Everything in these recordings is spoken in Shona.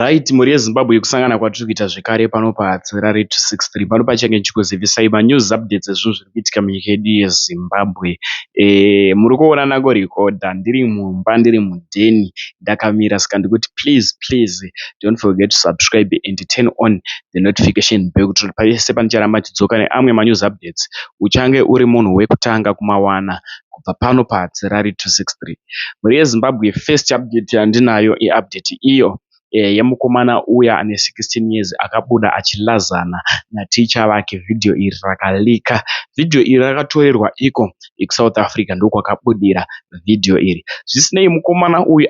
Right mhuri yeZimbabwe kusangana kwatiri kuita zvekare pano paHatirari 263 pano pachange ndichikuzivisai manews updates ezvinhu zviri kuitika munyika yedu yeZimbabwe. Eh, muri kuona nangorekodha ndiri mumba ndiri mudheni ndakamira saka ndikuti please please don't forget to subscribe and turn on the notification bell kuti pese pandicharamba ndidzoka neamwe manews updates uchange uri munhu wekutanga kumawana. kubva pano pa Harare 263. Mhuri ye Zimbabwe first update yandinayo i update iyo yemukomana uya ane 16 years akabuda achi lazana na teacher vake video iri raka leaker. Video iri rakatorerwa iko ku South Africa ndokwakabudira video iri. Zvisinei mukomana uyu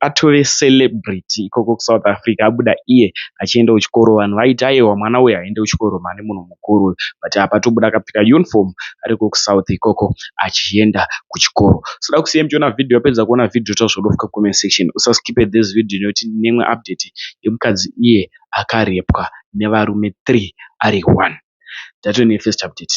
atove celebrity ikoko ku South Africa abuda iye achienda kuchikoro vanhu vaiti ayewa mwana uyu haaende kuchikoro mhani munhu mukuru. mukuru but apa tobuda akapfeka uniform ariko kusouth ikoko achienda kuchikoro soda kusiya muchiona video wapedza kuona video taurisa kuda kufika comment section usaskipe this video nekuti ndine imwe update yemukadzi iye akarepwa nevarume three ari one tatove nefirst update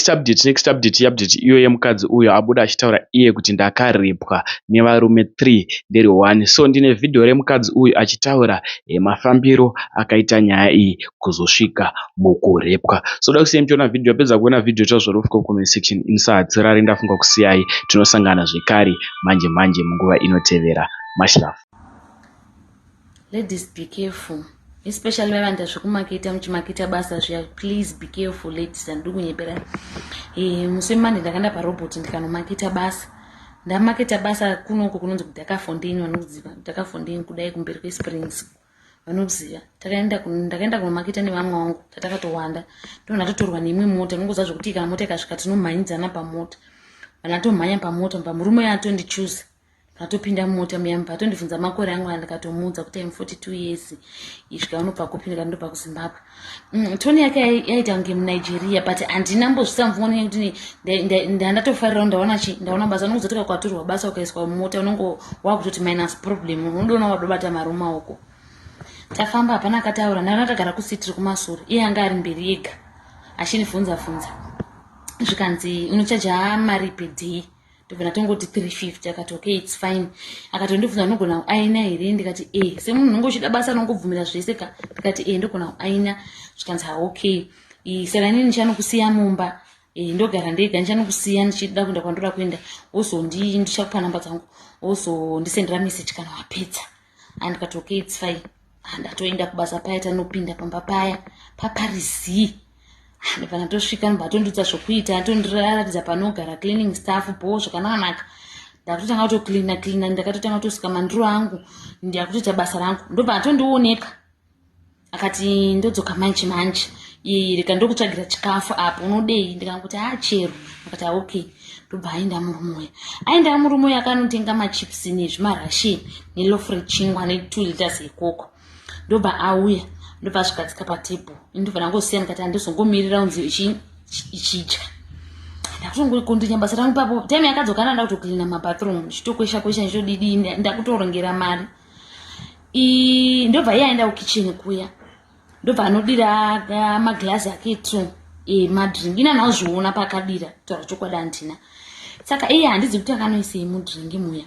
next update next update update iyo yemukadzi uyo abuda achitaura iye kuti ndakaripwa nevarume 3 ndiri 1 so ndine vhidhiyo remukadzi uyu achitaura eh, mafambiro akaita nyaya iyi kuzosvika mukurepwa so da kusiyai muchiona vhidhiyo apedza kuona vhidhiyo ita zvorofika kucomment section inisaatsirari ndafunga kusiyai tinosangana zvekare manje manje munguva inotevera mashirafu Ladies be careful especially mai vanoita zvekumaketa muchimaketa basa zviya please be careful ladies handidi kunyepera e, musi wemande ndakanda parobot ndikanomaketa basa ndamaketa basa kunoko kunonzi kudakafondeni vanoziva kudakafondeni kudai kumberi kwesprings vanoziva takaenda ndakaenda kunomaketa nevamwe wangu tatakatowanda ndona totorwa neimwe mota nongoziva zvekuti kana mota ikasvika tinomhanyidzana pamota vana tomhanya pamota pamurume yatondichuza Tatopinda mumota muya mubva atondibvunza makore angu a ndikatomuudza kuti im 42 years isvika unobva kupi ndikati ndobva kuzimbabwe mm, toni yake yaita kunge munigeria but handina mbozvisamvumwa nenya kuti ndandatofarira ndaona chi ndaona basa unokuzotoka kwaturwa basa ukaiswa mumota unongo wakutoti minus problem unodona wadobata mari mumaoko tafamba hapana akataura ndanga ndagara kusitiri kumasure iye anga ari mberi yega achinivhunza vhunza zvikanzi unochaja mari pedhii tobva ndatongoti 350 akati okay its fine akatondibvunza unogona kuaina here ndikati e semunhu unonge uchida basa anongobvumira zvese ka ndikati e ndogona kuaina zvikanzi ha okay seranini ndichanokusiya mumba e, ndogara ndega ndichanokusiya ndichida kuenda kwandoda kuenda wozondii ndichakupa namba dzangu wozondisendera message kana wapedza andikati okay its fine handatoenda kubasa paya tanopinda pamba paya paparizii ndipana tosvika ndibva atondidza zvokuita atondiratidza panogara cleaning staff bho zvakananaka ndakutotanga kutocleana cleana ndakatotanga kutosika mandiro angu ndakutoita basa rangu ndobva atondioneka akati ndodzoka manje manje iyi reka ndokutsvagira chikafu apo unodei ndikanguti haa chero akati aoke ndobva aenda murume uya aenda murume uya akanotenga machips nezvimarashin nelof rechingwa netwo liters yekoko ndobva auya ndobva azvigadzika patable ndobva ndangosiya ndikati handizongomirira unzi ichidya ndakutongokundinye basa rangu papo time yakadzokana ndakutoklina mabathroom chitokwesha kwesha nditodidii ndakutorongera mari ndobva iye aenda kukicheni kuya ndobva anodira ah, maglazi ake two eh, madrink ini anaozviona paakadira kutaura chokwadi handina saka iye handizi kuti akanoisei mudrink muya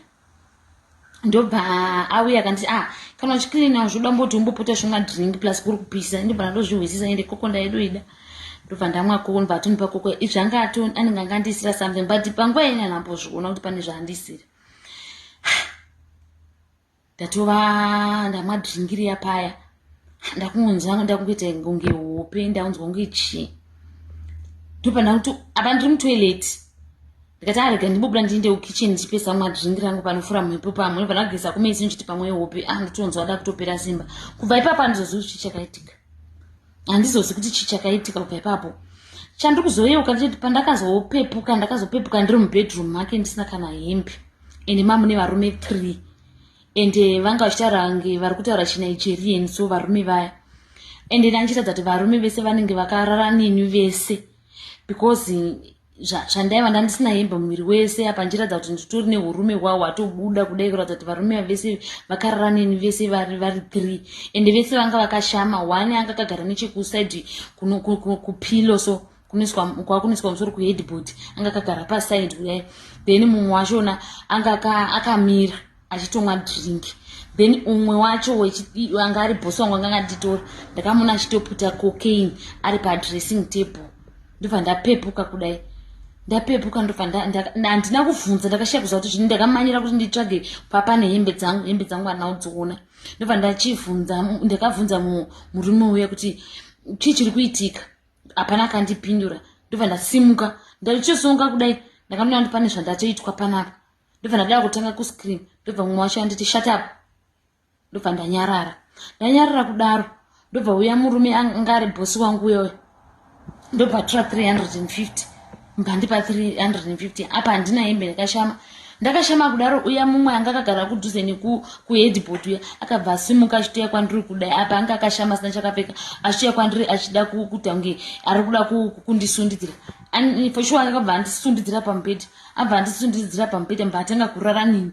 ndobva auya akanti ah kana uchikirina zvoda mboti umbopota zvimwa drink plus kuri kupisa ndobva ndandozvihwisisa ende koko ndaidoida ndobva ndamwa koko ndobva atonipa koko izvanga anenge angandiisira something but panguva yene anambozviona kuti pane zvaandisira ndatova ndamwa dhringiri yapaya ndakungonzwa ndakungoita kunge hope ndakunzwa kunge chii ndopanda kuti apa ndiri mutoilet ndikati arega ah, ndibubuda ndiinde kukitchen ndichipesa mwa drink rangu panofura mhepo pamwe ndopanda kugeza kumesi ndichiti pamwe hope a ah, nditonzwa da kutopera simba kubva ipapo andizozivi chichakaitika handizozi kuti chi chakaitika uka ipapo chandiri kuzoyeuka ndichiti pandakazopepuka ndakazopepuka ndiri mubedroom make ndisina kana hembe ende mamune varume three ende eh, vanga vachitaura nge vari kutaura chinigerian so varume vaya ende eh, ndandichiratidza kuti varume vese vanenge vakarara neni vese because zvandaiva ndandisina hembe muviri wese apa ndichiratidza kuti nditori neurume hwawo hwatobuda kudai kuratidza kuti varume vese vakarara neni vese vari vari three ende vese vanga vakashama one anga akagara nechekusaidi kupilo so kwakunoiswa musoro kuheadboard anga akagara pasaidi kudai then mumwe wachona anga akamira aka achitomwa drink then umwe wacho anga ari bosi wangu anga anganditora ndakamuona achitoputa cocaine ari padressing table ndobva ndapepuka kudai ndapepuka ndobva handina kuvhunza ndakashaya kuziva kuti zvini ndakamanyira kuti nditsvage papa nehembe dzangu hembe dzangu anaodziona ndobva ndachivhunza ndakavhunza murume uya kuti chii chiri kuitika hapana kandipindura ndobva ndasimuka ndaichosonga kudai ndakanoona kuti pane zvandatoitwa panapa ndobva ndadava kutanga kuscream ndobva mumwe wacho anditi shut up ndobva ndanyarara ndanyarara kudaro ndobva uya murume anga ari bhosi wangu uya uya ndobva tura 350 mbandipa 350 apa handina hembe ndakashama ndakashama kudaro uya mumwe anga akagara kudhuze nekuheadboard uya akabva asimuka achitoya kwandiri kudai apa anga akashama asina chakapfeka achitoya kwandiri achida kutange ari kuda kundisundidzira for sure akabva andisundidzira pamubhedhi abva andisundiridzira pamubhedha mba atanga kurara nini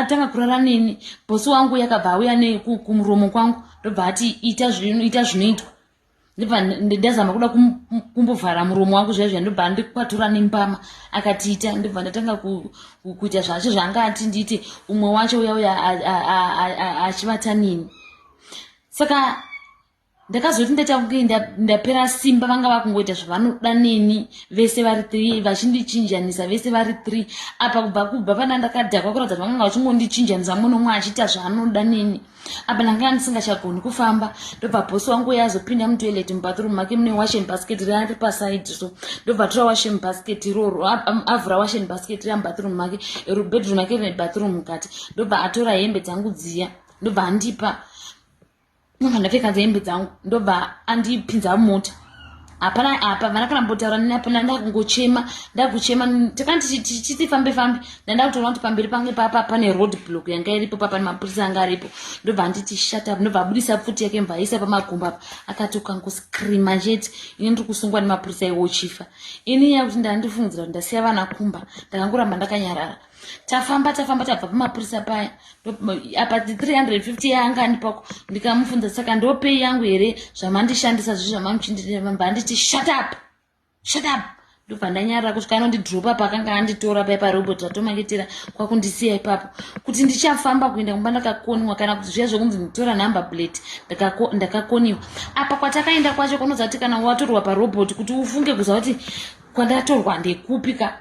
atanga kurara nini bosi wangu yakabva auya nekumuromo kwangu ndobva ati ita ita zvinoitwa ndibva ndazama kuda kumbovhara muromo wangu zviya zviya ndobva ndikwatura nembama akatiita ndibva ndatanga kuita zvacho zvaanga ati ndiite umwe wacho uya uya achivata nini saka ndakazoti ndaita kunge ndapera simba vanga vakungoita zvavanoda neni vese vari three vachindichinjanisa vese vari three apa kubva kubva pana ndakadhakwa kuratidza kuti vakanga vachingondichinjanisa mumwe nomwe achiita zvaanoda neni apa ndanga ndisingachagoni kufamba ndobva bosi wangu uye azopinda mutoilet mubathroom make mune washen basket rari paside so ndobva tora washen basket iroro avhura washen basket ria mubadroom make rubedroom make rine bathroom mukati ndobva atora hembe dzangu dziya ndobva andipa ndobva ndapfekadza hembe dzangu ndobva andipinza mota hapana apa vana kana mbotaura nini apana ndakungochema ndakuchema takana tichifambe fambe ndandakutoona kuti pamberi pange papa pane road block yanga iripo papane mapurisa anga aripo ndobva anditi shut up ndobva abudisa pfuti yake mva aisa pamagumbo apa akati ukangoscreama chete ini ndiri kusungwa nemapurisa iwo chifa ini nyaya kuti ndandifungidzira kuti ndasiya vana kumba ndakangoramba ndakanyarara tafamba tafamba tabva pamapurisa paya apa 350 yaanga andipako ndikamufunza saka ndopei yangu here zvamandishandisa zvi zvamamuchindiamba anditi shut up shut up ndobva ndanyarira kusvika anondidropa paakanga anditora paye parobot atomangetera kwakundisiya ipapo kuti ndichafamba kuenda kumba ndakakoniwa kana kuti zviya zvekunzi nditora number plate ndakakoniwa apa kwatakaenda kwacho kunoza kuti kana watorwa parobot kuti ufunge kuza kuti kwandatorwa ndekupi ka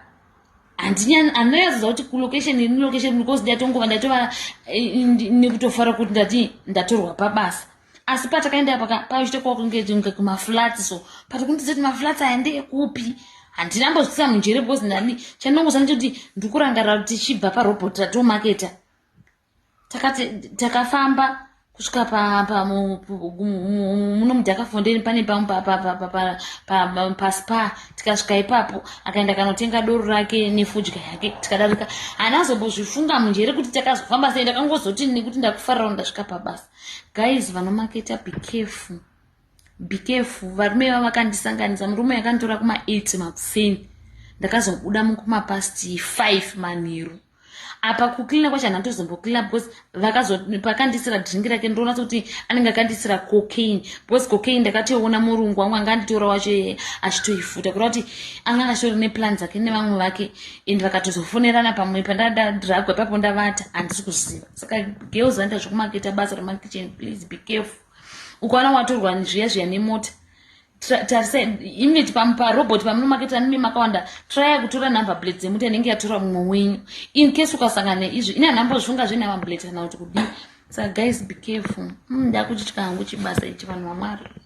handinyani anonyatsoziva kuti kulocation iri location because ndatongova ndatova eh, nekutofara kuti ndati ndatorwa pabasa asi patakaenda paka paichita kwakunge kumaflats so pati kundiza kuti maflats aya ndeekupi handinambozvitisa munjere because ndani chandinongoziva ndechekuti ndikurangarira kuti tichibva parobot ratomaketa takati takafamba kusvika pamuno mudhakafondeni pane pamwe paspa tikasvika ipapo akaenda kanotenga doro rake nefudya yake tikadarika hanazobozvifunga munjere kuti takazofamba sei ndakangozoti nekuti ndakufarira ndasvika pabasa guys vanomaketa becareful bikefu varume iva vakandisanganisa murume yakanditora kuma 8 makuseni ndakazobuda mukuma past 5 manheru apa kucleana kwacho hana tozombocleana because vakazopakandisira dringi rake ndoona sokuti anenge akandisira cocaine because cocaine ndakatoiona murungu wangu anga anditora wacho yeye achitoifuta kureva kuti anga angasori neplan dzake nevamwe vake and vakatozofonerana pamwe pandadadhiragwa ipapo ndavata handisi kuziva saka girls vanoita zvekumaketa basa remakitchen please be careful ukaona watorwa zviya zviya nemota tarisai imi parobot pamunomaketa nimi makawanda traya kutora number blade dzemuti anenge yatora mumwe wenyu in case ukasangana neizvi ine anambozvunga zvenumber blade kana kuti kudii saka guys be careful hmm, ndakutitya hangu chibasa ichi vanhu vamwari